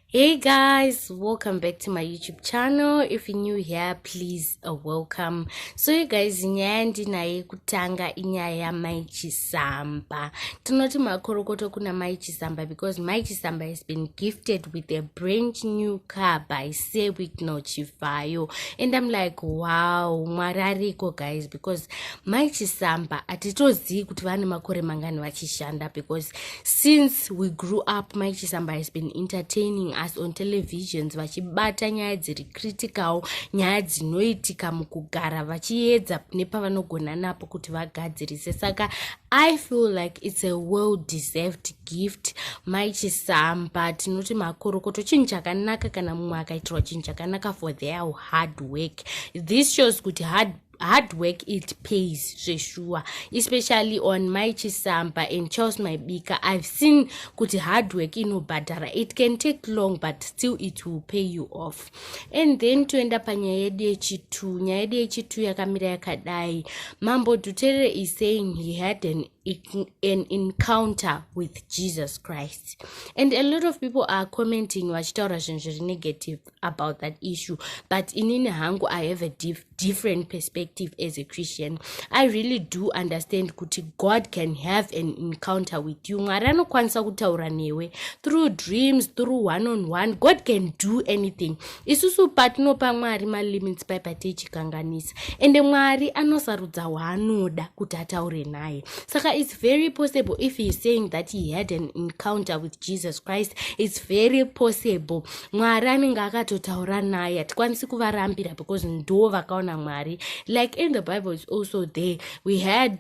hey guys welcome back to my youtube channel if you're new here please uh, welcome so you guys nyaya yandinaye kutanga inyaya yamai chisamba tinoti makorokoto kuna mai chisamba because mai chisamba has been gifted with a brand new car by sewik nochivayo and i'm like wow mwari ariko guys because mai chisamba hatitozivi kuti vane makore mangani vachishanda because since we grew up mai chisamba has been entertaining us on televisions vachibata nyaya dziri critical nyaya dzinoitika mukugara vachiedza nepavanogona napo kuti vagadzirise saka i feel like it's a well deserved gift mai chisamba tinoti makorokoto chinhu chakanaka kana mumwe akaitirwa chinhu chakanaka for their hard work this shows kuti hard hard work it pays zveshuwa especially on my chisamba and charles maibika i've seen kuti hard work inobhadhara it can take long but still it will pay you off and then toenda panyaya yedu yechitu nyaya yedu yechitu yakamira yakadai mambo duterere is saying he had an an encounter with jesus christ and a lot of people are commenting vachitaura zvinhu zviri negative about that issue but inini hangu i have a dif different perspective as a christian i really do understand kuti god can have an encounter with you mwari anokwanisa kutaura newe through dreams through one on one god can do anything isusu patinopa mwari malimits pai pateichikanganisa ende mwari anosarudza waanoda kuti ataure naye saka its very possible if heis saying that he had an encounter with jesus christ its very possible mwari anenge akatotaura naye hatikwanisi kuvarambira because ndo vakaona mwari like in the bible is also there we had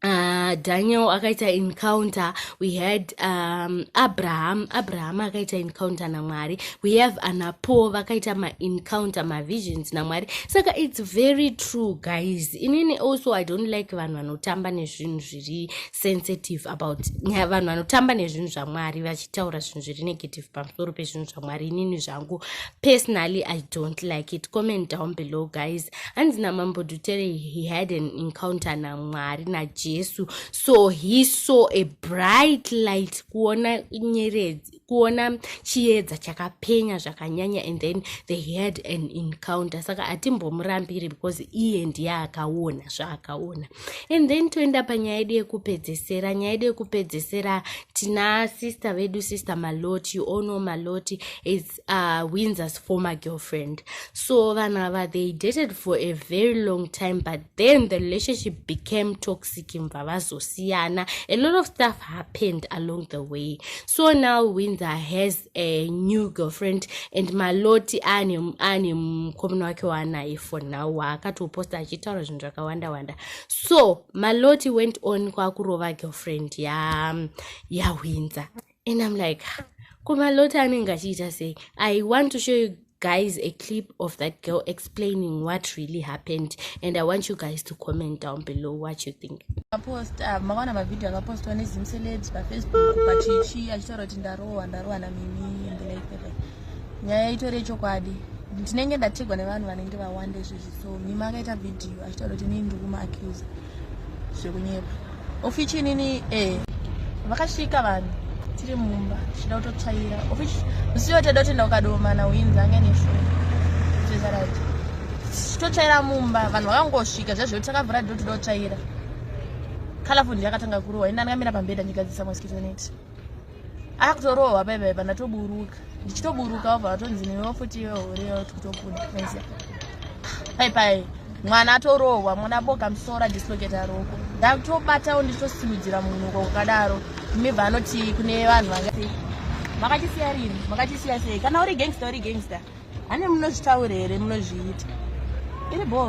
Uh, daniel akaita encounter we had um, abraham abraham akaita encounter namwari we have anapo vakaita maencounter mavisions namwari saka its very true guys inini also i don't like vanhu vanotamba nezvinhu zviri sensitive about nyaya vanhu vanotamba nezvinhu zvamwari vachitaura zvinhu zviri negative pamusoro pezvinhu zvamwari inini zvangu personally i don't like it comment down below guys hanzi namambo dutere he had an encounter namwari najesu so he saw a bright light kuona nyeredzi kuona chiedza chakapenya zvakanyanya and then they had an encounter saka hatimbomurambiri because iye ndiye akaona zvaakaona and then toenda panyaya yedu yekupedzesera nyaya yedu yekupedzesera tina sister vedu sister maloti you all know maloti is uh, windsors former girlfriend so vanhu ava they dated for a very long time but then the relationship became toxic mva vazosiyana a lot of stuff happened along the way so now windsor has a new girlfriend and maloti ane mukomana wake waanaye for now waakatoposta achitaura zvinhu zvakawanda wanda so maloti went on kwakurova girlfriend yawindsor ya and i'm like kumalota anenge achiita sei i want to show you guys a clip of that girl explaining what really happened and i want you guys to comment down below what you think post uh, mawana mavideo akapostwa nezimcelebs pafacebook pachichi achitaura kuti ndarohwa ndarohwa namimi and like that nyaya itori yechokwadi ndinenge ndategwa nevanhu vanenge vawanda izvizvi so mima akaita vhidhiyo achitaura kuti inini ndiri kumaacusa zvekunyepa ofichi inini e eh, vakasvika vanhu tiri mumba tichida kutotsvaira ofichi musiwo teda kuti ndaukadomana uinzi anga nesho zvezaraiti tichitotsvaira mumba vanhu vakangosvika zvazvo takavhura ndo tida kutsvaira kalafundi yakatanga kurohwa ini ndandingamira pambeda ndigadzisa mosquito net akutorohwa bebe pandatoburuka ndichitoburuka obva vatonzi newe futi iwe hure tikutokuda mese pai pai mwana atorohwa mwana boka musora dislocate aroko ndakutobatawo ndichitosimudzira munhu uko kukadaro mibva anoti kune vanhu vangasei makachisiya rini makachisiya sei kana uri gangster uri gangster hane munozvitaure here munozviita iri bo